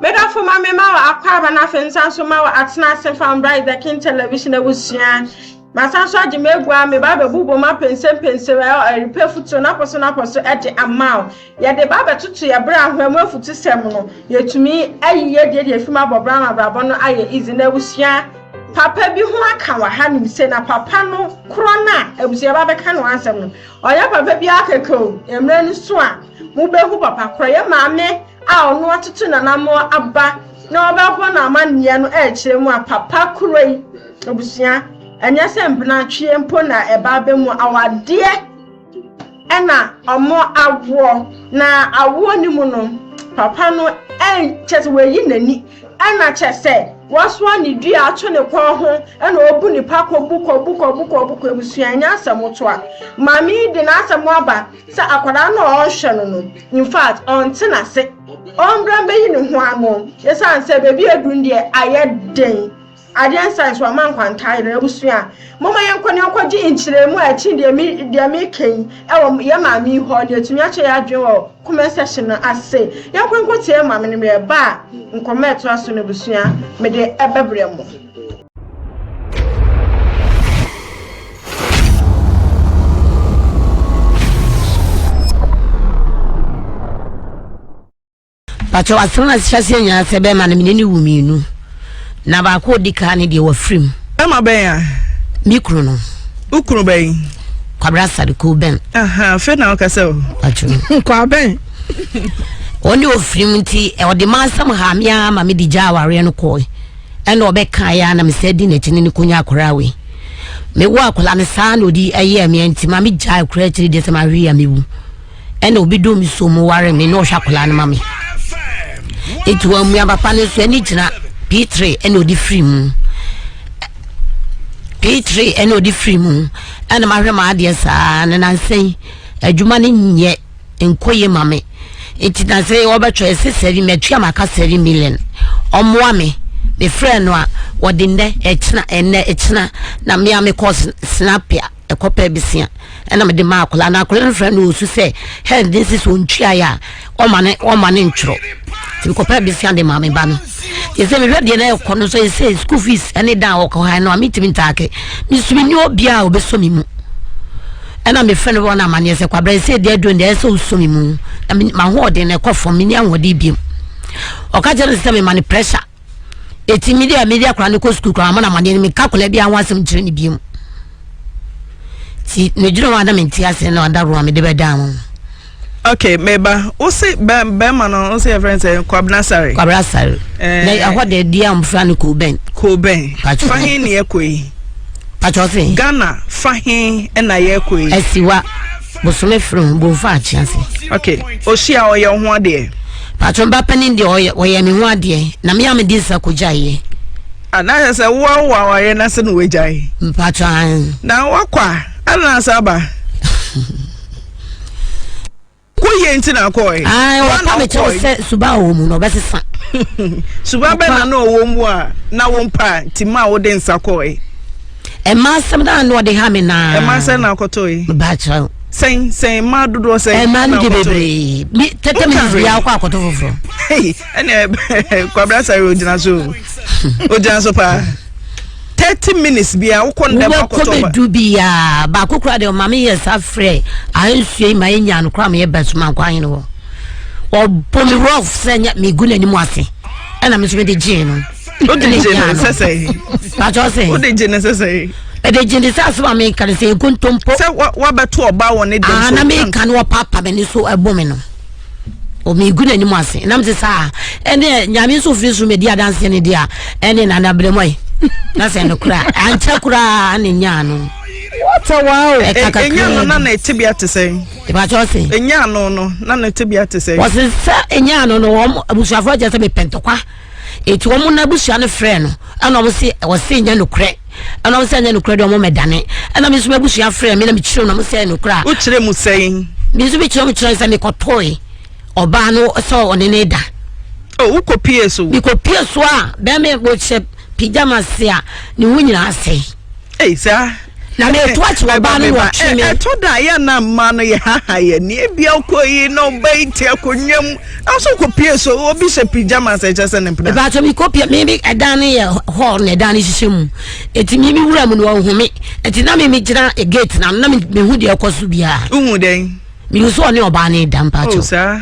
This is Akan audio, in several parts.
Me dɔfo ma me ma wo akwaaba na afei nsan so ma wo atena ase fa mbra is the king television abusua masan so agye m'agua me ba bɛbobɔ mu apɛnsɛmpɛnsɛ ɛrepɛ futuo napɔ so napɔ so ɛde ama wo yɛde ba bɛtoto yɛ berɛ ahoa mu afutu sɛm no yɛtumi ayi yɛ deɛ deɛ fim abɔ bra ma brabɔ no ayɛ izi na abusua papa bi ho aka wɔ ha nim sɛ na papa no korɔ no a abusua ba bɛka no ansɛm no ɔyɛ papa bi akɛkɛ o mmerɛ no so a mobɛhu papa korɔ yɛ maame a ɔno atutu n'anammɔn aba na ɔbɛbɔ no amanneɛ no rekyerɛ mu a, papa kuro yi, abusua, ɛnyɛ sɛ mpenatweɛ mpo na ɛba abɛ mu awadeɛ ɛna ɔmo awoɔ na awoɔ no mu no papa no kyɛ sɛ wɔayi n'ani ɛna kyɛ sɛ wɔasoa ne dua ato ne kɔn ho ɛna ɔbu nipa kɔbu kɔbu kɔbu kɔbu kɔ abusua ɛnyɛ asɛm to a maame yi de n'asɛm aba sɛ akwadaa no a ɔrehwɛ no no in fact ɔnte n'ase ɔmbra mbɛyi ne ho ano ɛsiane sɛ baabi aduru no deɛ ayɛ den adeɛ nsa nso ama nkwantaa yere abusua a moma yɛnkɔ ne yɛnkɔgye nkyerɛmu a ɛkyi deɛ me deɛ meka yi ɛwɔ yɛ maame yi hɔ ne ɛtumi akyɛ yɛ adwene wɔ comment section no ase yɛnkɔ nkɔtie maame no yɛba a nkɔmmɔ ɛtoa so no abusua mede ɛbɛbrɛ mo pakyɛ wasɛm no asehyɛ aseɛ nyinaa sɛ bɛrima no mene ne wu mmienu na baako ɔdi kaa ne deɛ wafiri mu ɛma bɛn a me kunu no wo kunu bɛn kwabra sade ko bɛn fe na woka sɛ kwa bɛn ɔne ɔfiri mu nti ɔde ma asɛm ha me ara ma mede gya awareɛ no kɔe ɛna ɔbɛkaeɛ a na mesan di n'akyi ne no kɔnya akwadaa wei mewɔ akwadaa no saa na ɔdi ɛyɛ mmea nti ma me gya akura akyiri deɛ sɛ ma hwe a mewu ɛna obi dɔ me so mu ware me na ɔhwɛ akwadaa no ma me ɛti wɔn mmea papa no nso ɛne gyina p3 ɛna ɔdi firi mu p3 ɛna ɔdi firi mu ɛna ma hwɛ ma adeɛ saa ne nansɛn adwuma no nyɛ nkɔ yie ma me nti na sɛ wɔbɛtwerɛ ɛsɛ sɛri matua maka sɛri million ɔmmoa me mefrɛ no a wɔde nnɛ ɛkyena ɛnnɛ ɛkyena na mmea me kɔ snapia ɛkɔ pɛ besia ɛna mede ma akwadaa na akwadaa no frɛ no ɔsu sɛ hɛn de nsi so ntuaeɛ a ɔma ne ɔma ne ntwerɛ nti mekɔpɛ besia de ma me ba no yɛ sɛ mehwɛ deɛ na ɛkɔ no nso yɛ sɛ school fees ɛne dan a wɔkɔ ha no a metumi ntaake mesu menni obiaa a ɔbɛsɔ me mu ɛna mefrɛ no wɔn amanneɛ sɛ kwabra ɛsɛ deɛ aduro deɛ ɛsɛ ɔsɔ me mu na mahoɔden na ɛkɔ fam menni ahoɔden biam ɔka kyerɛ no sɛ mema no pressure ɛti mede a mede akora no kɔ sukuu koraa mo no amanneɛ no meka kola biaa ho asɛm kyerɛ no biam nti ne dwene hɔ a na mente ase na ɔda roa mede bɛdaa mo okay meba wo se bɛrima no wo se yɛfrɛ sɛ kwabena sare kwabena sare eh. na ɛhɔ de deɛ a mfra no koben koben fa he ne yɛkɔ yi patwɔ se ghana fa he na yɛkɔ yi asiwa bosome fere ho bomfa akyea se okay ɔhyi a ɔyɛ ho adeɛ patwɔ mba panin deɛ ɔyɛ me ho adeɛ na me a medi nsa kɔgyaeɛ anaasɛ ah, sɛ woawo awareɛ no ase na woagyae mpatwɔ na woakɔ a ɛna asa aba woyɛ nti na akɔɛ wɔpa me kyɛw sɛ suba a ɔwɔ mu no ɔbɛsesa suba bɛ na na ɔwɔ mu a na wo mpa nti ma a wode nsa kɔɛ ɛma asɛm na ano ɔde ha me naa ɛma asɛm na akɔtɔɛ baakyerɛ wo sɛn sɛn mmaa dodoɔ sɛn ɛmaa no de bebree mi tete mi bi akɔ akɔtɔ foforɔ ɛnna kwabra sari ogyina so ogyina so paa. thirty minutes bia wokɔ ndɛm akɔtɔ ba wobɛkɔ bɛdu bia baako kora deɛ ɔma meyɛ sa frɛ ahensuei ma ɛnya no kora meyɛ basuma nkɔ ahene hɔ ɔbɔ me rof sɛ nya megu n'anim ase ɛna me nso mede gyee no wode gye no sɛ sɛ pakyɛ sɛ wode gye no sɛ sɛ ɛde gye ne sɛ asɛm a meka no sɛ ɛkontompo sɛ wabɛto ɔba wɔ ne dɛm so na meka no ɔpapa m'ani so ɛbo me no ɔmegu n'anim ase ɛnam te saa ɛne nyame nso firi soro mɛdi adanseɛ no deɛ a ɛne nana brɛmɔe na sɛ no koraa ankyɛ koraa ne nyaa no wata waa o ɛnya no na na ɛtebea te sɛn ɛbakyɛ ɔse ɛnya no no na na ɛtebea te sɛn wɔse sɛ ɛnya no no wɔn abusuafoɔ kyɛ sɛ mepɛntɔkwa Enti wɔn n'abusua no frɛɛ no, ɛna wɔn se, wɔse nyɛ nokorɛ. Ɛna wɔn sɛ nyɛ nokorɛ deɛ wɔn mɛdane. Ɛna me nso m'abusua frɛɛ me na mekyerɛ mu na wɔn sɛ nokorɛ a. Wokyerɛ mu sɛn? Me nso mekyerɛ mu kyerɛ sɛ mekɔtoe ɔbaa no sɛ ɔne ne da. O oh, wokɔpie so? Mekɔpie so a bɛma wɔhyɛ pyjamas a ne ho nyinaa sɛe. Ei saa. Na me eto ate ɔbaa no na ɔtwe me. Ɛtɔ da yɛ na mmaa no yɛ haha yɛ ni ebi akɔ yi na ɔba yi ti akonnwa mu na so kɔ pie so obi hyɛ pyjamas ɛkyɛ sɛ ne mpena. Ìbátan mi kɔ pie mi bi ɛdan no yɛ hall na ɛdan no hyehyɛ mu eti mi mi wura mu na ɔhu mi eti na mi mi gyina gate na na mi hu deɛ ɛkɔ so biara. Nhu dɛn. Mi hu so ɔne ɔbaa ne da mpatsɔ. O oh, saa.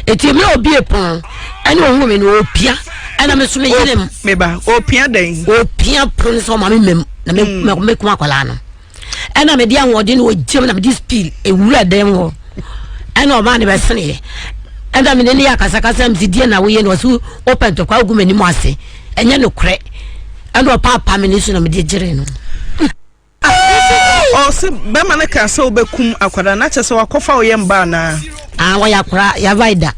eti mi a obie pon ɛna ohun mi na opia ɛna mi so mi yere mu. meba opia dɛn. opia pon sɛ ɔma mi mɛm na mi mm. mɛ kun akwadaa no ɛna mi di ahoɔden na ogyam na mi di speed ewura dɛm hɔ ɛna ɔmaa ne bɛ sene yɛ ɛna mi ne ne yɛ akasakasa mi si die na woyɛ na ɔsi opɛ ntɔkwa ogu mi anim ase ɛnyɛ no korɛ ɛna ɔpaapa mi ne so na mi di gyere no. Ɔɔ ɔse bɛma no kaa sɛ wobɛkum akwadaa no akyɛ sɛ wakɔfa wo yɛm ba anaa. Ah wɔyɛ akwadaa yavae da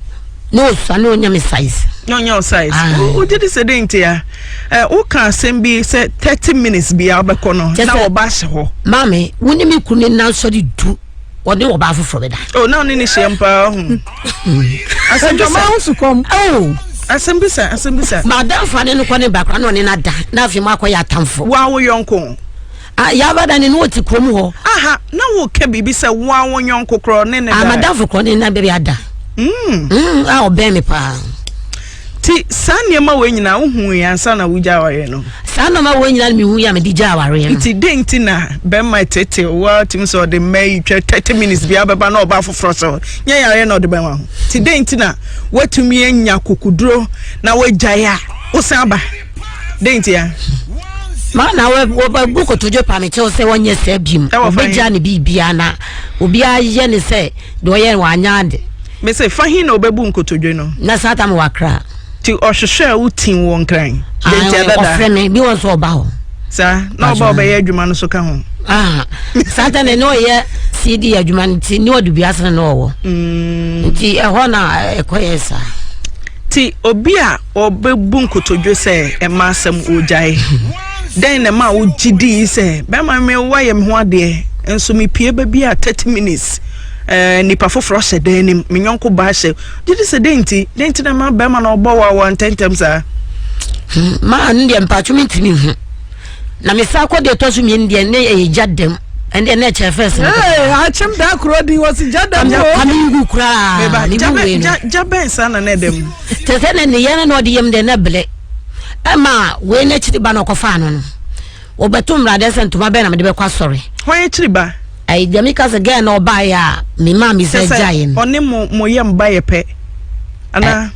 na ɔsua na ɔnya me size. Na ɔnya wo size. Wogye di sɛ dɛn nti a eh, woka asɛm bi sɛ thirty minutes bia wobɛkɔ no na wɔba ahyɛ hɔ. Maame wo ne me kunu ne nansɔre du. wɔde ɔbaa foforɔ bɛda. o oh, na ɔne ne hyiam paa ho. asɛm bisa ɔmaa ho sukɔm. Oh. asɛm bisa asɛm bisa. madamfo ane no kɔ ne bakora na ɔne no ada na afei mu akɔyɛ atamfo. wa wo yɔnko. Ah, yaba da ne ne wɔte kurom hɔ. aha na woka biribi sɛ wa wo yɔnko korɔ ne ne ah, da. amadamfo korɔ ne na bɛbi ada. Mm. Mm, a ah, ɔbɛn me paa. ti saa nneɛma wei nyinaa wohui ansa na wogya awareɛ no saa nneɛma wei nyinaa mehui a mede gya awareɛ no nti den nti na bɛma tete woatumi sɛ ɔde mma yi twɛ 30 minutes bia bɛba na ɔba foforɔ sɛ nyɛ yareɛ na ɔde bɛma ho nti den nti na woatumi anya kokuduro na woagyae a wosan aba den nti a ma na wɔbu kotodwe pa me kyɛw sɛ wɔnyɛ saa biom wɔbɛgya ne biribiaa na obiaa yɛ ne sɛ deɛ ɔyɛ no wɔanyɛ ade Mese, fa he na ɔbɛbu nkotodwe no? Na saa ta mewɔ akra. Nti ɔhwehwɛɛ wo tim wɔ Nkran? Deɛ nti adada. Ɔfrɛ me, bi wɔ nso ɔba hɔ. Saa, na ɔba ɔbɛyɛ adwuma no so ka ho. Ah, saa ta na ne ɔyɛ CD adwuma no nti, ne ɔde bi asene na ɔwɔ. Nti ɛhɔ na ɛkɔyɛ saa. Nti obi a Wɔbɛbu nkotodwe sɛ ɛma asɛm wogyae. Dɛn na ɛma wogye dii sɛ bɛrima me wayɛ me ho adeɛ nso mepie baabi a 30 minutes eh, nipa foforɔ hyɛ dan anim me nyɔnko baa hyɛ gye di sɛ dɛn nti dɛn nti na ma bɛrima na ɔbɔ wawa ntɛntɛm saa hmm, ma ɛno deɛ mpatwo mentumi nhu na mesa kɔ deɛ ɛtɔ so mmienu deɛ ne ɛyɛ gya dɛm ɛnde ɛnna ɛkyɛ fɛs. ee akyem da kuro di wɔsi gya dɛm o. kame ngu koraa ne bu wei no. gya bɛn saa na na ɛdɛm. kyerɛ sɛ na nneyɛ no na ɔde yam dɛ na bere ɛma wei no akyiri ba na ɔkɔfaa no no wɔbɛto mmaradeɛ sɛ ntoma bɛn na mede bɛkɔ asɔre hwan akyiri ba ɛyɛ deɛ meka sɛ gɛɛ na ɔbaeɛ a me maa me sɛ gyaeɛ no ɔne mo mo yam ba yɛ pɛ anaa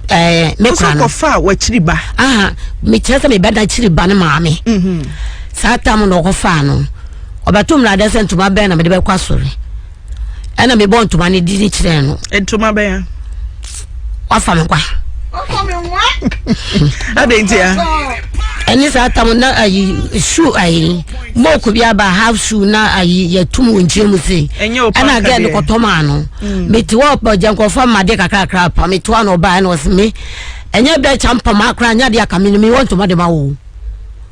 ɛɛ me kora no kɔfa wakyiri ba aha mekyerɛ sɛ mebɛda akyiri ba no maame mhm. saa tam na ɔkɔfaa no ɔbɛto mmaradeɛ sɛ ntoma bɛn na mede bɛkɔ asɔre ɛna mebɔ ntoma no di ne kyerɛɛ no ntoma bɛya wafa me kwa adɛn nti a ɛne saa tam na ayi shoe ayi mook bi aba half shoe na ayi yɛtum wɔ nkyɛn mu se ɛna gɛɛ no kɔtɔ maa no mm. mete hɔ ɔgya nkurɔfoɔ ama adeɛ kakrakra pa mete hɔ na ɔbaa ɛna ɔse me ɛnyɛ bɛkyɛ mpama akora nyɛ adeɛ aka me no mewɔ ntoma de ma wo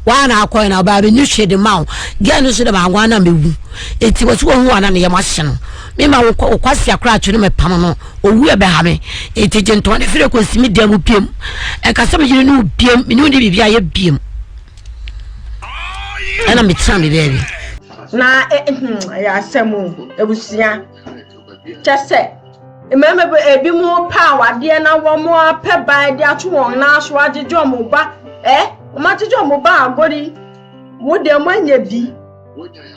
Woana akɔe na ɔbaa menni hwee de ma wo. Girl no nso dɛ mango a na mewu. Enti wɔsi wɔhu a na ne yam ahye no. Me ma wo wo kwasea koraa to no mepam no. Owu ɛbɛha me. Enti gye ntɔn ne firi kɔ si me dan mu biom. Ɛka sɛ me yere ne wo biom. Me ne wo ne biribi ayɛ biom. Ɛna me tena me baabi. Na eh, hmm, ɛyɛ asɛm o, abusua. kyɛ sɛ mmarima bi ebi mu paa wadeɛ na wɔn apɛ ban de ato wɔn nan so agyegye wɔn ba ɛ wɔn agyegye wɔn ba agori wo deɛ wɔn anya bi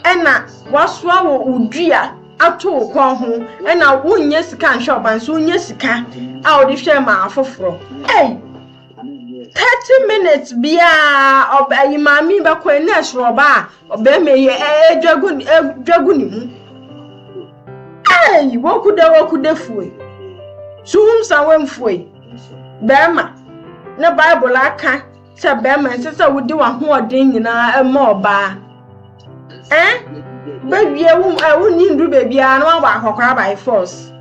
ɛna wasoa wɔ odua ato wo kɔn ho ɛna wonyɛ sika nhwɛ ɔban so wonyɛ sika a wɔde hwɛ ma afoforɔ ɛy thirty minutes biara ɔbɛ ayi maame bɛkɔ ɛna ɛsoro ɔbaa. Ɔbarima yi ɛdwa gu ɛdwa gu ne mu. Ɛyi woku dɛ woku dɛ fue. Suhum sa wemfue. Bɛrima na Bible aka sɛ bɛrima ɛnsɛ sɛ wode w'ahoɔden nyinaa ɛma ɔbaa. Ɛn bɛwie wo ɛwo nyi ndu baabi a na wabɔ akɔkora by force.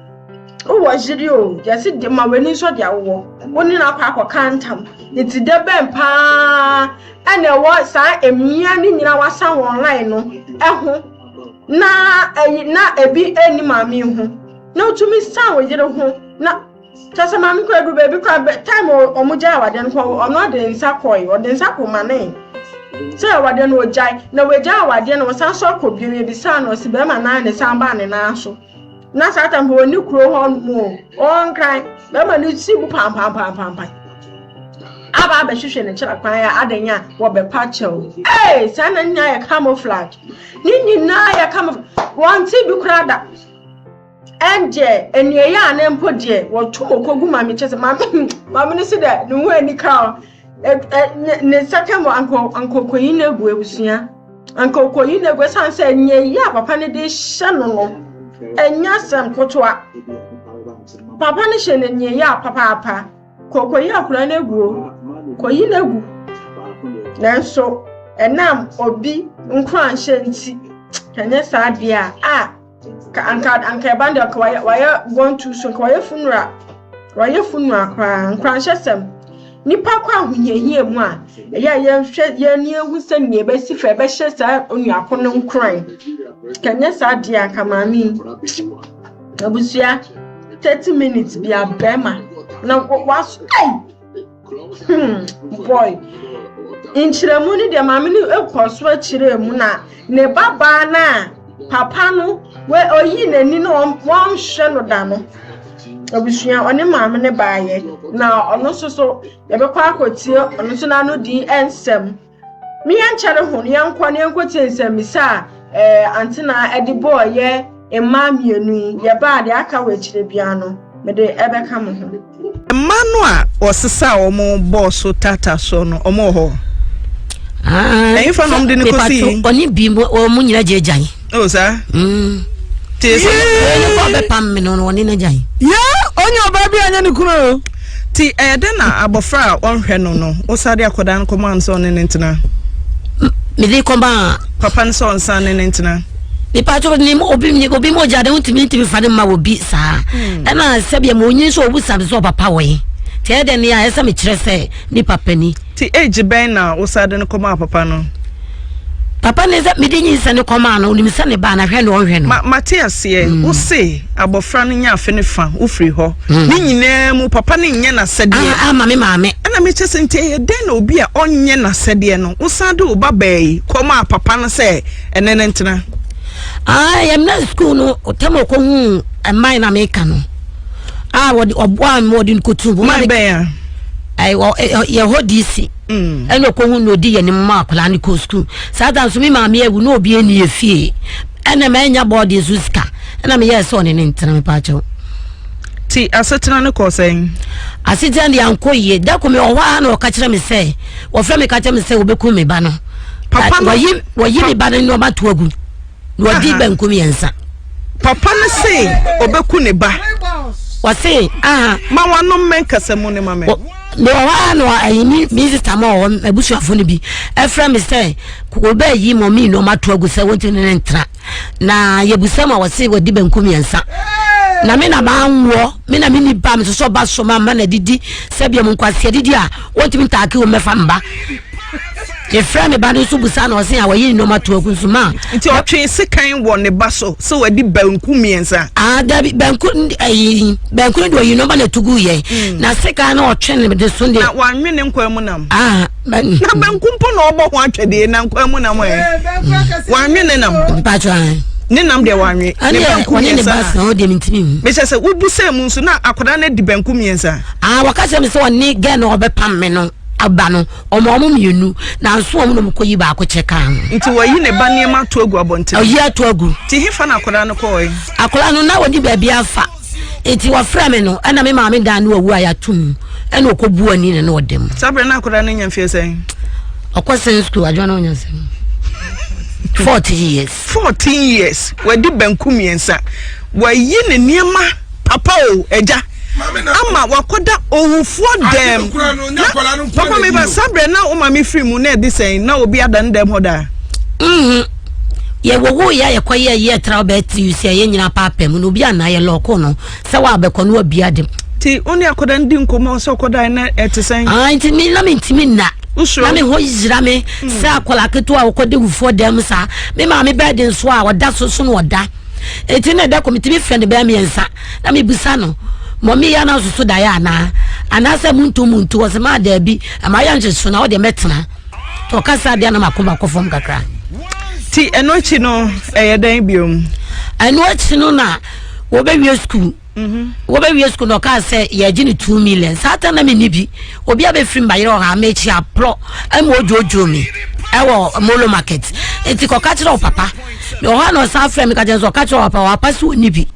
Wowɔ yere o yɛsi de ma w'ani nsɔ deɛ wowɔ. Wo ne no akɔ akɔka ntam. Nti dɛ bɛn paa na ɛwɔ saa mmea no nyinaa wasan wɔn line no ho na ɛyi na ebi ɛni maame ho na otumi san wo yere ho na kyɛ sɛ maame kura duru baabi kura bɛ time wɔn gya awadeɛ no kɔ ɔno ɔde nsa kɔe ɔde nsa kɔ ma ne sɛ awadeɛ no ɔgyae na wɔagya awadeɛ na wɔsan so akɔ bio yɛbisaa no ɔsi bɛrima nan ne san baa ne nan so na satan bɔ ne kuro hɔ mu ɔnkran bɛma ne ti bu pampampampampa aba abɛhwehwɛ ne kyerɛ kwan a adan a wɔbɛpa kyɛw ee saa na nyinaa yɛ camouflage ne nyinaa yɛ camouflage wɔn ti bi kura da ɛndeɛ ɛnea ɛyɛ a ne mpo deɛ wɔto mɔkɔ gu maame kyɛ sɛ maame maame no si dɛ ne ho ani ka o ne nsa ka mu anka anka okoyi no agu abusua anka okoyi no agu ɛsan sɛ nea eyi a papa no de hyɛ no no ɛnyɛ asɛm kotoa papa no hyɛ no nea eyi a papaapa kokoyi akora no agu o koyi no agu nanso ɛnam obi nkoranhyɛ nti kanyɛ saa deɛ a a Ka anka anka ɛba no deɛ anka wayɛ wayɛ born too soon anka wayɛ funura wayɛ funura koraa nkoranhyɛ sɛm nipa kɔ ahohiahia mu a ɛyɛ a yɛhwɛ yɛn ani ehu sɛ nea ɛbɛsi fɛ ɛbɛhyɛ saa onuako no nkoran kanyɛ saa deɛ anka maame yi abusua thirty minutes bi a bɛrima na wa ɛy. Hmm, boy nkyerɛmu no deɛ maame no kɔ so akyerɛ mu na ne babaa no a papa no ɔyi n'ani no wɔnhwɛ no da no abusua ɔne maame no baayɛ na ɔno nso so yɛbɛkɔ akɔtie ɔno nso n'ano di nsɛm Me yɛnkyɛre ho no, yɛnkɔ na yɛnkɔtie nsɛmmisa a ɛɛ antena de bɔɔ yɛ mmaa mmienu yi. Yɛbaa deɛ aka wɔ akyire biara no, mede ɛbɛka mo ho. Mmaa no a wɔsesaa wɔn bɔɔ so taataa soɔ no, wɔn wɔ hɔ? Ɛhefa na wɔde no kɔsi? Ɔne bi wɔn nyinaa gyagyae. o saa tee sɛ ne kɔ bɛpam me no ɔne no agyan yɛ ɔnyɛ ɔbaa bi anyɛ ne kunu o ti ɛyɛ dɛ na abɔfra a ɔnhwɛ no no wosade akɔdaa no kɔmaa no sɛ ɔne ne ntena mede kɔmaa papa no sɛ ɔnsan ne ne ntena mipatɔ ni obi ni obi mo gya de ntumi ntumi fa ne ma wɔ bi saa hmm. ɛna sɛbi ɛmu onyin so obu sabi so ɔpapa wɔ yi tiɛ dɛ ni a ɛsɛ mi kyerɛ sɛ nipa pɛ ni. Ti age bɛn na wosa de no kɔmaa papa no? Papa no sɛ mede nyinsɛn no kɔmaa no onim sɛ ne ba na hwɛ ne ɔnhwɛ no. Ma mate aseɛ mm. wo se abɔfra no nya afe ne fa wofiri hɔ mm. ne nyinaa mu papa no nyɛ n'asɛdeɛ ah, ah, ma me maame ɛna mekyɛ sɛ nti ɛyɛ dɛn na obi a ɔnyɛ n'asɛdeɛ no wosan de wo ba baa yi kɔmaa papa no sɛ ɛne ne ntena ah, yɛmna sukuu no tam ɔkɔhu mman na meka no a wɔde ɔboa ma wɔde nkotu ma bɛn a yɛ hɔ dc mm. ɛna ɔkɔhu na ɔdi yɛ ne mma akwadaa no kɔ sukuu saa da nso me maame awu na obi ani efie ɛna ma ɛnya bɔɔde nso sika ɛna meyɛ sɛ ɔne ne ntena me paakyɛw ti asetena no kɔ sɛn asetena deɛ ankɔ yie da kɔ me ɔhɔ a na ɔka kyerɛ me sɛ wɔfrɛ me ka kyerɛ me sɛ wɔbɛku me ba no papa no wɔyi me ba no nneɛma to agu na wadi banku mmiɛnsa. papa no se ɔbɛku ne ba. wɔse aha. ma wanom me nkasa mu ne ma me. mewɔ hɔ a na ayi me me sista ma wɔ hɔ abusuafo no bi ɛfrɛ me sɛ wɔbɛyi mɔmi na ɔmato agu sɛ wɔnti ne ne ntra na yɛbusa ma wɔse wadi banku mmiɛnsa na me na maa nwoɔ me na menni ba mesosɔ ba so ma mma na didi sɛdeɛ mu nkwaseɛ didi a wɔntumi ntaake wɔ mmɛfa mba efirɛ ne ba no nso busa na ɔse a wɔyɛ nneɛma to agu nso ma. nti ɔtwe sekan wɔ ne ba so sɛ wɔde banku mmiɛnsa. aa dabi banku ayi banku no de ɔyi nneɛma na ɛto gu yɛ hmm. na sekan no ɔtwe ne de so deɛ. na wanwe ne nkwan mu nam. aa na banku mpo na ɔbɔ ho atwɛdeɛ na nkwan mu nam ɛ wanwe ne nam. mpatsɔ an. ne nam deɛ wanwe ne banku mmiɛnsa mehyɛ sɛ wobu sɛ mu nso na akwadaa no adi banku mmiɛnsa. aa wɔka sɛ mi sɛ ɔne gɛn na ɔbɛpam mi no. ba no, ɔma wɔn mmienu, nanso wɔn na wɔkɔyi baako kyɛ kaa ho. Nti wɔyi ne ba nneɛma ato agu abɔnten. Ɔyi ato agu. Nti hefa na akwadaa no kɔɔe? Akwadaa no na wɔde baabi afa. Nti wɔfrɛ me no, ɛna me maame dan no awu a yɛato mu, ɛna ɔkɔbu ani ne na ɔda mu. Saa berɛ na akwadaa no nya mfeɛ sɛn? Ɔkɔ sɛn sukuu adwa na ɔnya sɛn? Forty years. Fourteen years wadi banku mmiɛnsa wayi ne nneɛma papa o agya ama wakɔda owufoɔ dɛm na papa mi ba sabrɛ na o maame firi mu na ɛde sɛn na obi ada ne dɛm hɔ daa. Mhm. Yɛ wo wo yɛ yɛ kɔ yɛ yɛ tra ɔbɛ tiri yɛ nyina paapɛ mu na obi anayɛ lɔɔko no. sɛ wabɛkɔ no wabia de nti wo ne akɔda no di nkɔmmɔ sɛ ɔkɔdae na ɛte sɛn ah, nti me na mentimi nna na me hɔ yira me hmm. sɛ akɔla ketewa a wɔkɔda wufoɔ dɛm saa me maa me bɛɛ de nso a ɔda so so no ɔda ɛti na ɛda kɔ metumi frɛ no bɛɛ mmiɛnsa na mebusa no mɔmi ya na soso da ya na anaasɛ muntu muntu ɔsɛ maa daabi ɛma yɛ nhyɛ so na ɔde mɛtena tɔ ɔkasa deɛ na mako mako fam kakra ti ɛno akyi no ɛyɛ dɛn biom ɛno akyi no na wɔbɛwie sukuu mhm. wɔbɛwie sukuu na ɔkaa sɛ yɛgye no two million saa ta na menni bi obi a bɛfiri mbayerɛ ɔha mekyi aporɔ ma ɔdwoodwoo me ɛwɔ molo market nti kɔka kyerɛ wo papa ɔha na ɔsan frɛ me ka kyerɛ sɛ ɔka kyerɛ wo papa wapa sɛ ɔnni bi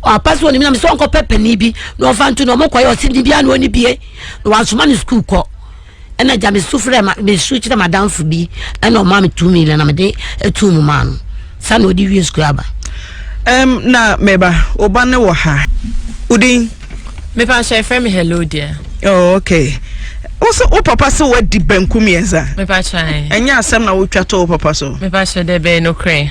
wapa sɛ ɔnni bi na mesɛ ɔnkɔpɛ pani bi na ɔfa nto na ɔmokɔyɛ ɔse ne bia na ɔnni bie na wasoma no sukuu kɔ ɛna gya me su frɛ ma me su kyerɛ m'adanfo bi ɛna ɔma me tumi na na mede etu mu maa no sani ɔde wie sukuu aba. ɛm na mɛba ɔba ne wɔ ha odin. mepa nhyɛ efrɛ me hello dear. oh okay woso wo papa se wadi banku mmiɛnsa. mepa kyɛn. ɛnyɛ asɛm na wotwa to wo papa so. mepa kyɛ dɛ bɛyɛ no korɛ.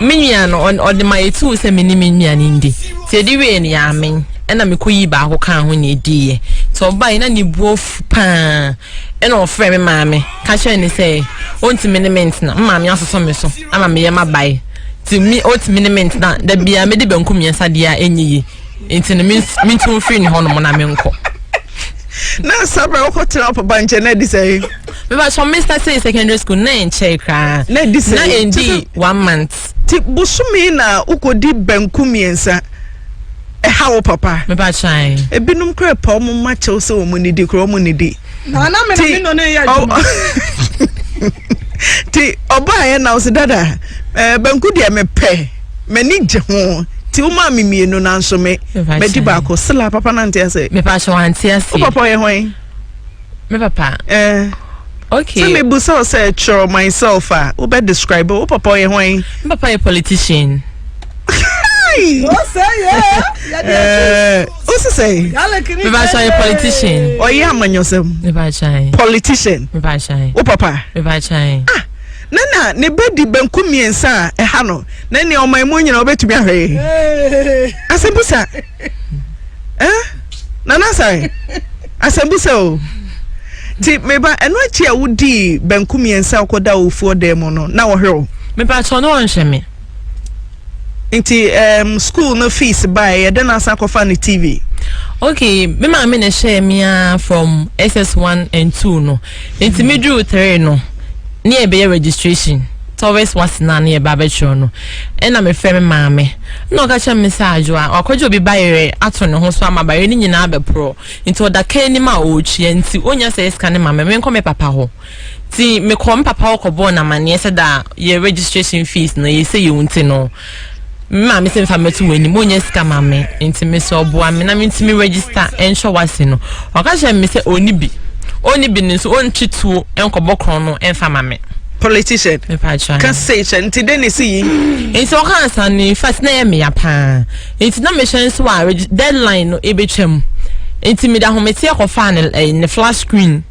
me nua no ɔde ma yɛtu wo sɛ me ne me nua no ndi nti ɛde wie no yɛamen ɛna mekɔyi baako kaa ho na ɛdiiɛ nti ɔbae na ne buo fu paa ɛna ɔfrɛ me maame ka kyerɛ ne sɛ ɔntumi ne me ntena me maame asosɔ me so ama meyɛ mabae nti me ɔtumi ne me ntena da biara mede banku mmiɛnsa deɛ a ɛnyɛ yi nti no menti wo firi ne hɔ nom na menkɔ na nsa bra wokɔ tena papa nkyɛn na adi sɛ meba sɔ mesa sɛ secondary school na ɛnkyɛe koraa na adi sɛ na ɛndi one month ti bosome na wokɔdi banku mmiɛnsa ɛha wo papa meba kyae ebinom kora pa ɔmo ma kyɛw sɛ ɔmo nidi kora ɔmo nidi na na me na me no ne yɛ adwuma ti ɔbaayɛ na ɔsi dada ɛɛ banku deɛ mepɛ m'ani gye ho ti wo maa me mmienu nanso me madi baako sila papa na nte ase me pa so ante ase wo papa yɛ hwan me papa eh okay sɛ mebu sɛ sɛ kyerɛ myself a wobɛ describe wo papa yɛ hwan me papa yɛ politician wosi sɛ mebakyɛ yɛ politician ɔyɛ amanyɔsɛm politician wo papa mebakyɛ ah Na na ne ba di benkum mmiɛnsa a ɛha no, na nea ɔman mu nyinaa ɔbɛtumi ahwɛ yi. Asɛmbusa. Eh? Nana Asare, asɛmbusa o. Ti meba ɛno akyi a wodii benkum mmiɛnsa a ɔkɔda ofuo dan mu no, na ɔhwɛ o. Mepatɔ no ɔnhwɛ me. Nti um, school no fees by yɛ dɛn asan akɔfa ne TV? Okay, me maame na ɛhyɛɛ me a from SS1 and 2 no. Nti me drew 3 no, ne ɛbɛyɛ registration. Towers wasena ne ɛba abɛtwerɛ no. Ɛna mefrɛ me maame. Na ɔka kyerɛ me sɛ adwo a wakɔgye obi bayerɛ ato ne ho so ama bayerɛ no nyinaa bɛporɔ. Nti ɔda ka anim a ɔretua nti ɔnya sɛ ɛsika ne maame menkɔ me papa hɔ. Ntsi mekɔɔ me papa hɔ kɔbɔɔ no amanneɛ sɛ dza yɛ registration fees no yɛsɛ yewu ntsi no, me maame se mfa mmɛto w'enyim, onnya sika ma me ntsi mese ɔboa me na mentsi me register nhwɛ w'ase no, ɔka kyerɛɛ me sɛ onni bi, onni bi no so onntwe tuo nkɔbɔ krɔn no mfa ma me. Politician, ka sei kyerɛ no, ntsi dɛn na esi yi? Ntsi ɔkaa nsɛm no, in fact na ɛyɛ me ya paa, ntsi na mehwɛ nso a deadline no ebetwa mu, ntsi mede ahometeɛ kɔfaa ne flat screen,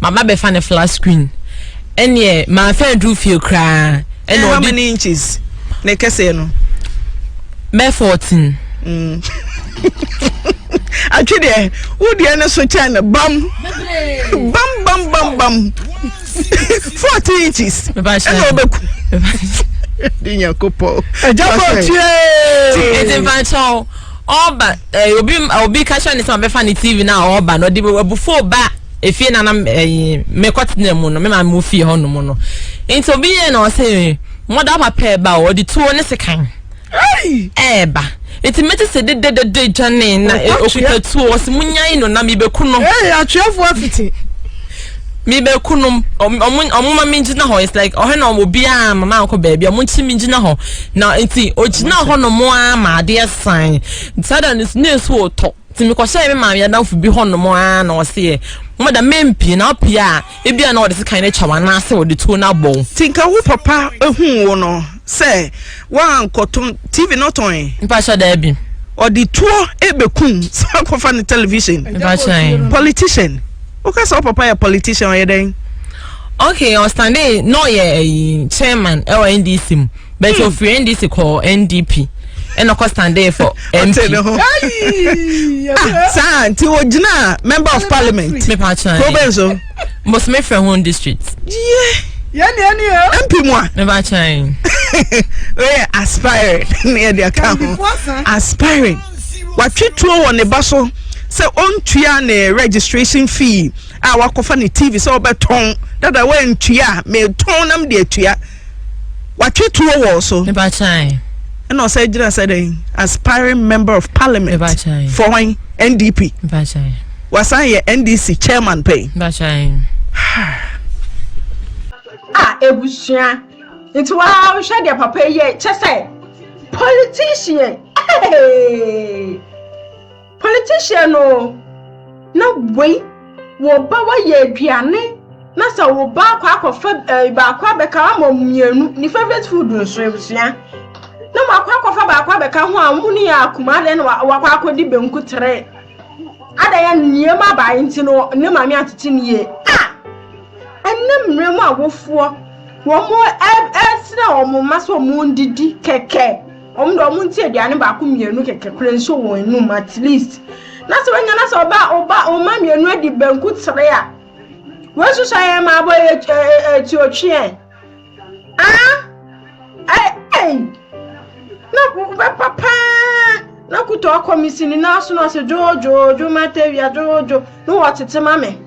Mama bɛfa ne flat screen. Ɛneɛ manfɛ aduru fie koraa. Ɛna ɔde. How many inches? Ne kɛseɛ no. Bɛ fourteen. Mm. atwe deɛ wo deɛ ne so kyɛn no bam bam bam bam bam forty inches ɛna ɔbɛku de nyakopɔ ɛgya bɔ tie ɛdi mfa nkyɛw Ɔba eh, obi obi ka kyerɛ ne sɛ ɔbɛfa ne TV na ɔba na ɔde abufo ba efie na na eh, mekɔtena mu no me maame mu fie hɔ nom no nti obi yɛ na ɔsɛ mɔda papa ɛba a ɔde tuo ne sekan ɛɛba nti mete sɛ dededede dwane na eh, okuta tuo ɔsɛ munyae no na mebɛku no. Ee, atweafoɔ afiti. Me beku nom ɔmo ɔmo ma me gyina hɔ it's like ɔhɛ na ɔmo biara ma maa kɔ baabi ɔmo kyi me gyina hɔ na nti ogyina hɔ nom aa ma adeɛ san saa da no ne nsu wɔ tɔ nti me kɔhyɛ me maame adamfo bi hɔ nom aa na ɔseɛ mo da mɛ mpie na ɔpie a ebi a na ɔde sekan atwa wɔn anaasɛ ɔde tuo no abɔ wo. Ti nka wo papa ehu wo no. Sɛ wankɔtɔn TV no tɔn ɛ. Mpakyɛ daabi. Ɔde tuo ɛbɛkum sɛ wakɔfa ne television. Mpakyɛ. Politician. Woka sɛ wo papa yɛ politician ɔyɛ dɛn? Okay, ɔstande na ɔyɛ ɛyi chairman ɛwɔ NDC mu. Bɛtɛ hmm. ofiri NDC kɔ NDP. ɛna ɔkɔ standee for mp. saa nti o gyina member of parliament. mi pa kyerɛ. province o. mbosome frɛ ho district. yie yɛn deɛ ni o. mp mu a. ne ba kyɛn. oyɛ aspiring ne yɛ de aka ho aspiring watwe tuo wɔ ne ba so sɛ ɔntua ne registration fee a wakɔfa ne tv sɛ ɔbɛtɔn dada wɔantua a metɔn nam de atua watwe tuo wɔ so ɛna ɔsɛ gyina sɛ dɛn aspiring member of parliament for wɔn ndp wasan yɛ ndc chairman pɛn a ebusua nti waa wohwɛ deɛ papa yɛ kyɛ sɛ politician hey. Politician o na wei wo ba wayɛ aduane na sɛ wo ba akɔ akɔfa eh, baako abɛka ama mmienu ne favorite food nso abusua na wakɔ akɔfa baako abɛka ho a wɔn ne yɛ akuma adɛn na wakɔ akɔdi benku tere adɛn yɛ nneɛma abae nti no ne maame atete ne yie a ɛnna mmerɛ mu awofoɔ wɔn ɛsrɛ wɔn mma sɛ wɔn didi kɛkɛ. Wɔn deɛ wɔn nti aduane baako mmienu kɛkɛ kura nso wɔn anum at least. Na sɛ wɔnya na sɛ ɔba ɔba ɔma mmienu adi banku tere a. Wɔn nsusu ayɛ ma abɔ yɛ ɛti otweɛ. Ah ɛɛɛy na bɛpa paa na kutu akɔ me si ne nan so na ɔsɛ dwoodwoodwo matawia dwoodwo na wɔtete ma me.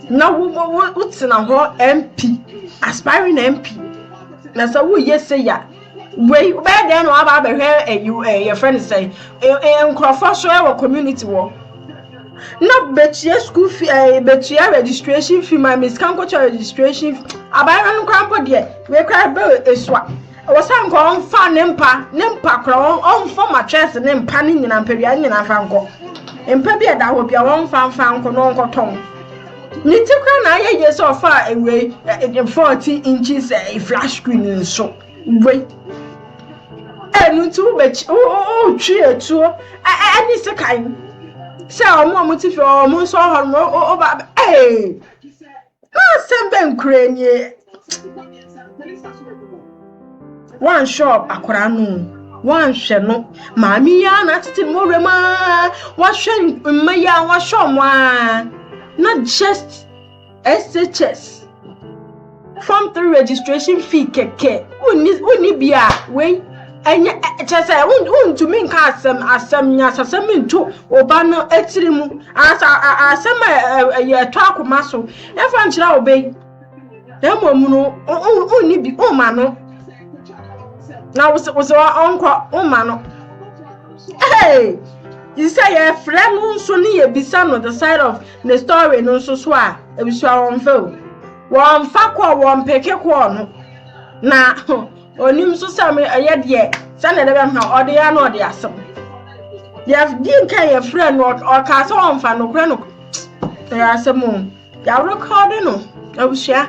na wo wo wotena hɔ mp aspiring mp na sɛ woyɛ sɛ ya wei bɛyɛ dɛn na waba abɛhwɛ ɛyi ɛɛ yɛfrɛ no sɛ ɛɛ nkurɔfoɔ so ɛwɔ community wɔ na bɛtua school fee ɛɛ bɛtua registration fee ma me sika nkɔtua registration abayerɛ no koraa mpo deɛ wei koraa bɛ esua. Ɔwɔ sɛ nka ɔmfa ne mpa, ne mpa kora, ɔmfa mattress ne mpa ne nyina mpadua ne nyina mfa nkɔ. Mpa bi a ɛda hɔ bi a ɔmfa mfa nkɔ na ɔnkɔtɔn. Ne ti kora na ayɛ yie sɛ ɔfa ewei eh, 14 inches eh, flat screen nso. Wei. Ɛnu eh, nti wobɛkyi, wotwi etuo ɛne eh, sekan sɛ ɔmo a ɔmo ti fi ɔmo nso ɔhɔ nom, ɔba, ɛɛ. Asɛm bɛn koraa nie? Woanhwɛ akwaraa no woanhwɛ no maame yi ara na atete no wɔwura mu ara wahwɛ mma yi ara wahwɛ wɔn ara na just SHS form three registration fee kɛkɛ wonni wonni bi a wei. Ɛnyɛ, kyerɛ sɛ, wontumi nka asɛm, asɛm, nyasasɛm nto oba no tiri mu, anaasɛ asɛm a ɛyɛ ɛtɔ akoma so, ɛmfa nkyerɛ oba yi, na mmom no, wonni bi, womma no, na wosɛ wosɛ ɔnkɔ, womma no. Hey! Yi sɛ yɛfrɛ no nso ne yɛbisa no the side of the story no nso so a, ebisua wɔmfa o. Wɔmfa kɔɔ, wɔmpeke kɔɔ no, na Onim nso sɛ me ɛyɛ deɛ sɛnea ɛde bɛma ɔde yɛ na ɔde asɛm. Yɛdi nka yɛfrɛ no ɔkaa sɛ ɔmfa nokorɛ no ɛyɛ asɛm o. Yɛarekɔde no abusua.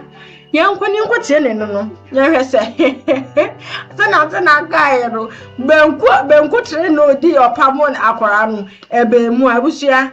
Yɛnkɔ ne nkɔ tie ne no no. Yɛhwɛ sɛ sɛnea ase na akaeɛ no bɛnko bɛnko tere na ɔdi ɔpamo akwaraa no ɛbɛn mu abusua.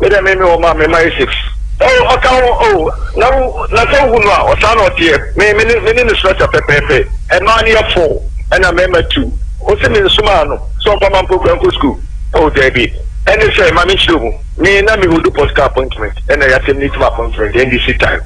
Me dɛ me me wɔ ma me ma Essex. Oh ɔka ho oh na wo na sɛ wohu no a ɔsaa na ɔteɛ me me ne me ne no srɛsrɛ pɛpɛɛpɛ. Ɛmaa no yɛ four ɛna mɛma two ose me nsomaa no sɛ ɔmfa ma mpokura nkɔ school oh daabi ɛne sɛ ma me nkyerɛ mu me na me hold pastor appointment ɛna yɛ asɛm no tim appointment ɛnde si time.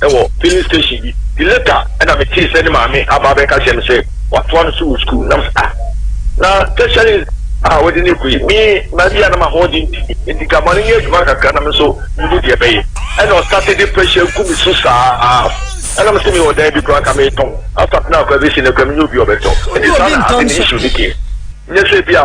wɔ filling station bi nti later ɛna me tee sɛ ne maame aba abɛka kyerɛ me sɛ watoa no so wɔ sukuu nam sɛ ah na tertiary a wɔde ne kɔ yi me maa bi a na ma ho den ti nti ka ma no nyɛ adwuma kakra na me nso mehu deɛ bɛyɛ ɛna ɔsate de pressure gu me so saa ɛna me sɛ mewɔ dan bi koraa ka metɔn asap no akɔ abɛsi no kora menyɛ obi ɔbɛtɔ nti saa na ade ne issue ne deɛ nyɛ sɛ bi a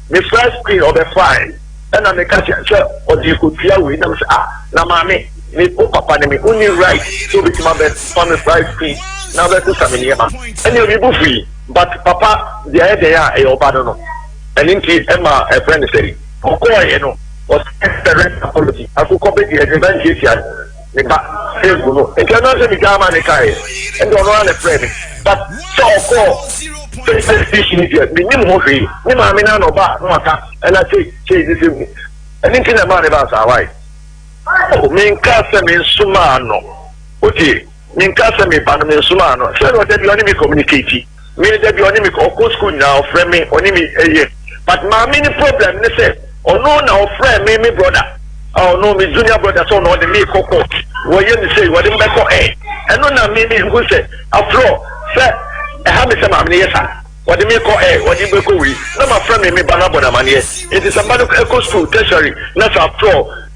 Me frɛ screen ɔbɛfae ɛna me ka kyerɛ sɛ ɔde kɔtua wei na me sɛ ah na maame me wo papa ne me wonni right sɛ obɛtumi abɛ fa me fry screen na abɛ sesa me nneɛma ɛneɛ me bo fui but papa deɛ ayɛ dɛn a ɛyɛ ɔba no no ɛne nti ɛma ɛfrɛ ne sɛ ɔkɔɔɛ no ɔsɛ sɛ rent apology akokɔ bɛdi ɛde bɛntiatia me ba Facebook no nti ɛno ara sɛ megyaa ma ne kaeɛ ɛnde ɔno ara na ɛfrɛɛ me but sɛ ɔkɔɔ Facebook fish no deɛ menim ho hwee ne maame no ana ɔba no aka ɛna sei sei ne sɛ mu ɛno nti na ɛmaa ne baa saa wae oh, menka sɛ mensomaa no wotie menka sɛ meba no mensomaa no sɛ na ɔda bi ɔne me communicate Me dabi ɔne me ɔkɔ school nyinaa ɔfrɛ me ɔne me ɛyɛ but maame ne problem ne sɛ ɔno na ɔfrɛ me me brother ah ɔno me junior brother sɛ ɔno ɔde me kɔ court wɔyɛ me sei wɔde me bɛkɔ ɛ ɛno na me me hu sɛ afrɔ sɛ ɛha me sɛ maame ne yɛ sa wɔde me kɔ ɛ wɔde me bɛkɔ wei na ma frɛ me me ba na bɔ na maneɛ nti sɛ mba no ɛkɔ school tertiary na sɛ afrɔ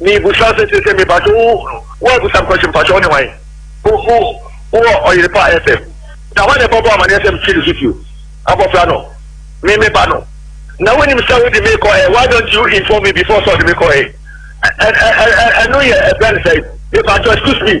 Mibisa sɛ sese mepakyɛ wo wo abusam kwɛhye mpakyɛ wo ne hwan wo wo wowɔ ɔyere pa ayɛ fɛm na hwan na ɛbɔbɔ amaneɛ sɛ mfi no so bio abɔfra no me me ba no na wonim sɛ wode me kɔ ɛ why don't you inform me before sɛ ɔde me kɔ ɛ ɛ ɛ ɛ ɛno yɛ ɛbɛn sɛ mepakyɛ excuse me.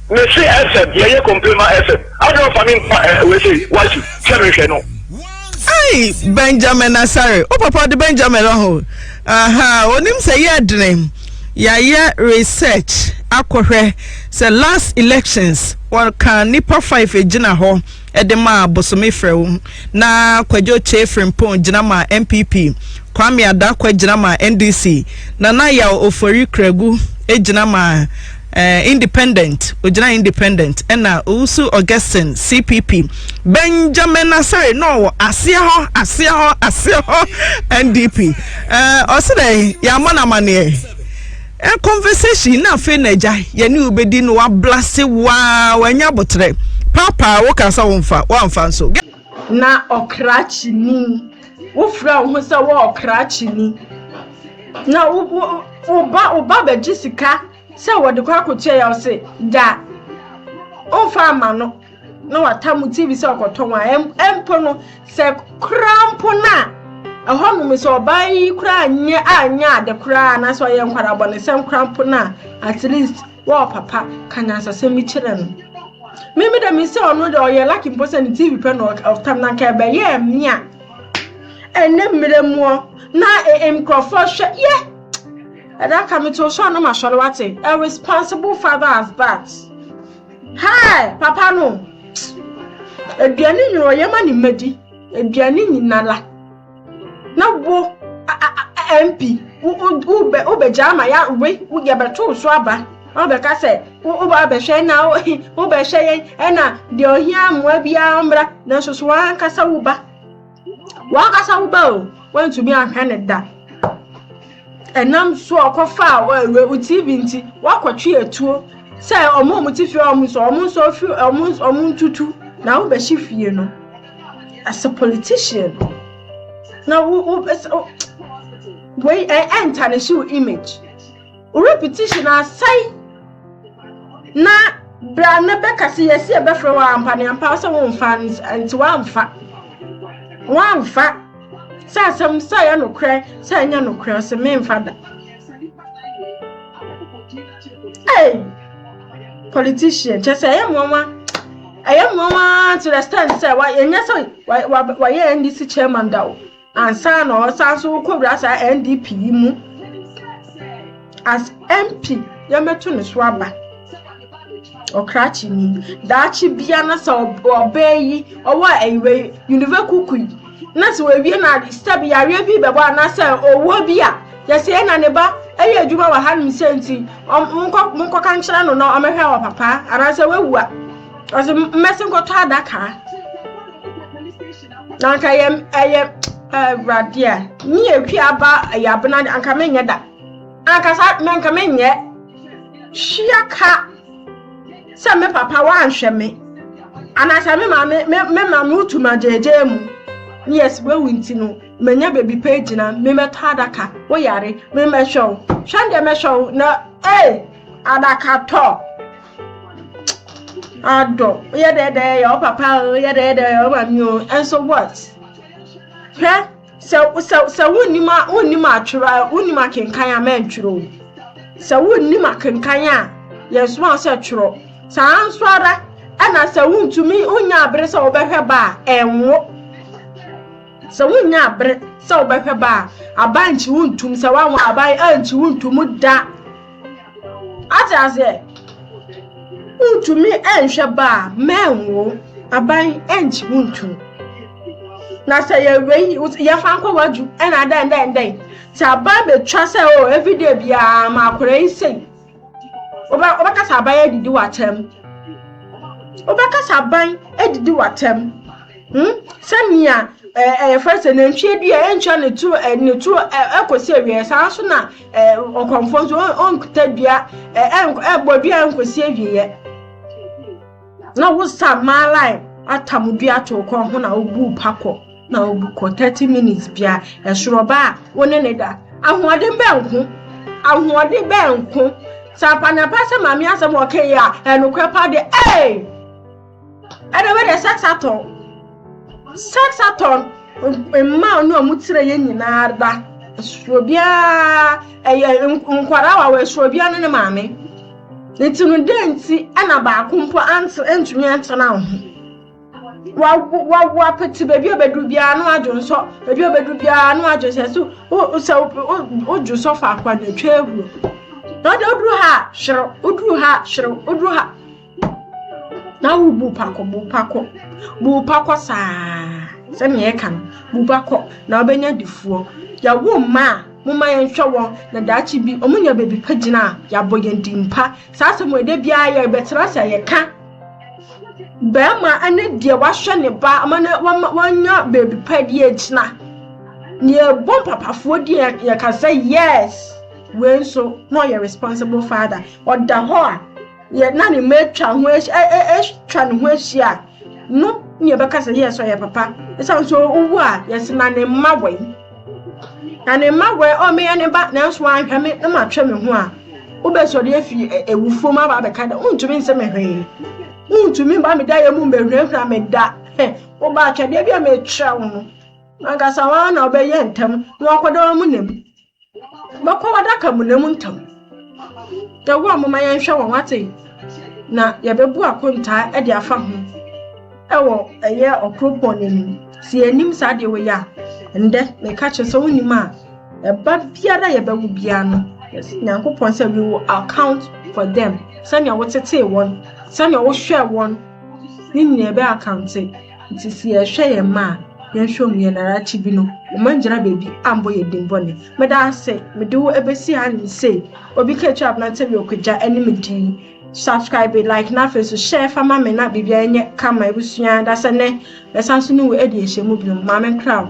Mese FM yɛ yɛ complain ma FM adɛn ɔfa me mpa eh, wei se wasi sɛ mehwɛ no. Ai Benjamin Asare o papa de Benjamin aho aha onim sɛ yɛ dene yɛayɛ research akɔhwɛ sɛ last elections wɔka nipa five gyina hɔ de maa Bosome Frɛwo na Kwadwo Kyei Frimpong gyina maa NPP, Kwame Adakwa gyina maa NDC, Nana Yaw Ofori Kragu gyina maa eh, Independent, ogyina Independent, ɛna Owusu Augustine CPP, Benjamin Asare na ɔwɔ aseɛ hɔ, aseɛ hɔ, aseɛ hɔ NDP. Eh, ɔse dɛ, yɛamɔ no amaneɛ. Ɛ conversation na afei na agya yɛne wo bɛdi no wablase waa wanya aboterɛ paapaa wo ka sɛ wo mfa woamfa nso. Na ɔkrakyeni wo frɛ wo ho sɛ wo ɔkrakyeni na wo wo wo ba wo ba bɛgye sika sɛ wɔde kɔ akɔtua yɛ ɔse gya ɔmfa ama no. na wata mu tv sɛ ɔkɔtɔ wɔn a ɛmpo no sɛ koraa mpo no a ɛhɔ nom sɛ ɔbaa yi koraa nyɛ a nyɛ ade koraa anaasɛ ɔyɛ nkwarabɔ ne sɛm koraa mpo no a at least wɔɔ papa ka nyansasɛm bi kyerɛ no mimi dɛ mesɛ ɔno dɛ ɔyɛ laki mpo sɛ ne tv pɛ na ɔtam na nka ɛbɛyɛɛ me a ɛnɛ mmerɛ muɔ na nkurɔfoɔ hwɛ yɛ ɛda ka metoo so a na masɔre wate a responsible father as that Hi! Papa no, aduane nyina ɔyɛ ma ne mmadi, aduane nyina la. Na wo MP, wobɛgya ama ya we, yɛbɛto wo so aba. Na wobɛka sɛ, woba abɛhwɛ na wobɛhwɛ yɛn, ɛna deɛ ɔhia mmoa biara ɔmmra, nanso so wankasa wo ba. W'ankasa wo ba o, woantumi anhwɛ no da. Ɛnam so ɔkɔfaa wo TV nti, woakɔtwe atuo sɛ ɔmo a ɔmo te fie ɔmo nsɔ, ɔmo nsɔ fi ɔmo ɔmo ntutu na wobɛhyɛ fie no. As a politician, na wo wo wei ɛntanishi wo image. Wo repetition asɛe na bra na bɛka sɛ yɛsi ɛbɛfrɛ wɔ ampa ne ampa sɛ womfa nti woamfa woamfa sɛ asɛm sɛ ɛyɛ nokorɛ sɛ ɛnyɛ nokorɛ ɔsɛ memfa da hey politician kyɛ sɛ ɛyɛ mmoawa ɛyɛ mmoawa to the stand sɛ ɛnyɛ sɛ wɔyɛ ndc chairman da o ansa na ɔsan so kɔwura saa ndp yi mu as mp yɛmɛto ne so aba ɔkrakye ni daakye bia na sɛ ɔbaa yi ɔwɔ ayiwa yi unive kuku yi na sɛ wɔawie na sɛ bi yareɛ bi bɛbɔ anaasɛ ɔwuo bi a yɛsɛ yɛ na ne ba ɛyɛ adwuma wɔ hanom sɛ nti monkɔka nkyerɛ no na ɔmɛhwɛ wɔ papa anaasɛ wawu a ɔsɛ mmɛse nkɔtɔ adakaa na anka yɛ ɛyɛ awurade a me yɛ twi aba ɛyɛ abena anka menyɛ da ankasa anka menyɛ hyia ka sɛ me papa wanhwɛ me anaasɛ me maame me me maame wotu ma gyegye mu ne yɛ sibawu nti no manya baabi pɛ gyina memɛtɔ adaka woyare memɛhwɛ wo hwɛ deɛ mɛhwɛ wo na ee adakatɔ Adɔ, woyɛ dɛɛdɛɛ yɛ wo papa o, woyɛ dɛɛdɛɛ yɛ wo maame o, ɛnso what? Hwɛ, sɛ sɛ sɛ wonnim a wonnim atwerɛ a wonnim akenkan a mɛntwerɛ o. Sɛ wonnim akenkan a yɛsoma sɛ twerɛ. Saa nso ara ɛna sɛ wontumi wonnya abere sɛ wobɛhwɛ ba a ɛnwo. Sɛ wonnya abere sɛ wobɛhwɛ ba a abankyi wontum sɛ wanwo aban ankyi wontum da. ate aseɛ wontumi nhwɛ ba a mɛnwo aban nkyi wontu na sɛ yɛwei yɛfa nkɔ wadwu ɛna dɛn dɛn dɛn sɛ aban bɛtwa sɛ o oh, everyday biara ma akora yi sei wobɛka sɛ aban adidi w'atɛm wobɛka sɛ aban adidi w'atɛm hmm? sɛnea ɛyɛfrɛ sɛ nantwie dua ɛntwa ne turo ne turo ɛkɔsi awieɛ saa nso na ɔkɔmfoɔ nso ɔnkɔta dua ɛbɔ dua ɛnkɔsi awieɛ na wosa maalan atam dua to kɔn ho na wobu pa kɔ na wobu kɔ thirty minutes bia ɛsoro ba a wo ne ne da ahoɔden bɛn nko ahoɔden bɛn nko sɛ apanapa sɛ maame asɛm ɔkɛyɛ a ɛnokorɛ pa de ee. ɛna ɛbɛ deɛ sex atɔn sex atɔn mmaa ne ɔmo tire yɛ nyinaa da ɛsoro biara ɛyɛ nkwadaa wa wɔ ɛsoro biara ne ne maame nti no dɛ nti ɛna baako mpo ante ntumi ntena ho wa wa wa pete baabi a bɛduru biara no adwo nsɔ baabi a bɛduru biara no adwo sɛ so o sɛ o dwo sɔ faako a na etwa ehuro na ɔde oduru ha hyerew oduru ha hyerew oduru ha. na wobu pako bu pako bu pako saa sɛnea ɛka no bu pako na wobɛnya difoɔ yɛwo mma a moma yɛnhwɛ wɔn na daakye bi wɔn nya baabi pa gyina a yɛabɔ yɛn din pa saa asɛm ɛda biara yɛbɛtena sɛ yɛka bɛrima ne deɛ wahwɛ ne ba ama no wanya baabi pa deɛ agyina deɛ ɛbɔ mpapafoɔ deɛ yɛka sɛ yes wei nso na ɔyɛ responsible father ɔda hɔ a yɛ na ne mma atwa ho atwa ne ho ahyia no ne yɛbɛka sɛ yɛ sɛ ɔyɛ papa ɛsiane sɛ owu a yɛse na ne mma wɛn na ne mma wɛn ɔ meyɛ ne ba nanso anhwɛ me na matwɛ me ho a wobɛsɔre afi awufoɔ mu aba abɛka dɛ wontumi nsɛ me hwee wontumi mba me da yɛ mu mbɛhurahura me da woba atwadeɛ bi a mekyerɛ wo no ankasa wɔn na ɔbɛyɛ ntɛm na wakɔda wɔn mu nam Bɛkɔ adaka mu na mu ntam. Dawuro a moma yɛnhwɛ wɔn ate na yɛbɛbu akontaa de afa ho ɛwɔ ɛyɛ ɔkoropɔn no anim. Sɛ yɛnim saa deɛ wei a, ɛndɛ meka kyerɛ sɛ wonim a ɛba biara yɛbɛwo biara no yɛsɛ Nyankopɔn sɛ we will account for them sɛnea wotetee wɔn sɛnea wohwɛɛ wɔn ne nyinaa ɛbɛ akante. Ntsi sɛ yɛhwɛ hɛn mma a yɛnnhwɛ hɔn yie na arakye bi no wɔanngyina beebi ammbɔ hɛn dzin bɔn ɛ. Meda ase, mede wo ebesi ha nye sei. Obi ka etwa aberantsɛ bi ɔkɔgya ɛne me dii. Subscribe, like na afei so share fa ma me na biribiara nyɛ kama ebusua dasɛ nɛ mɛsan so ne wo adi nhyiamu binom. Maame nkra wo.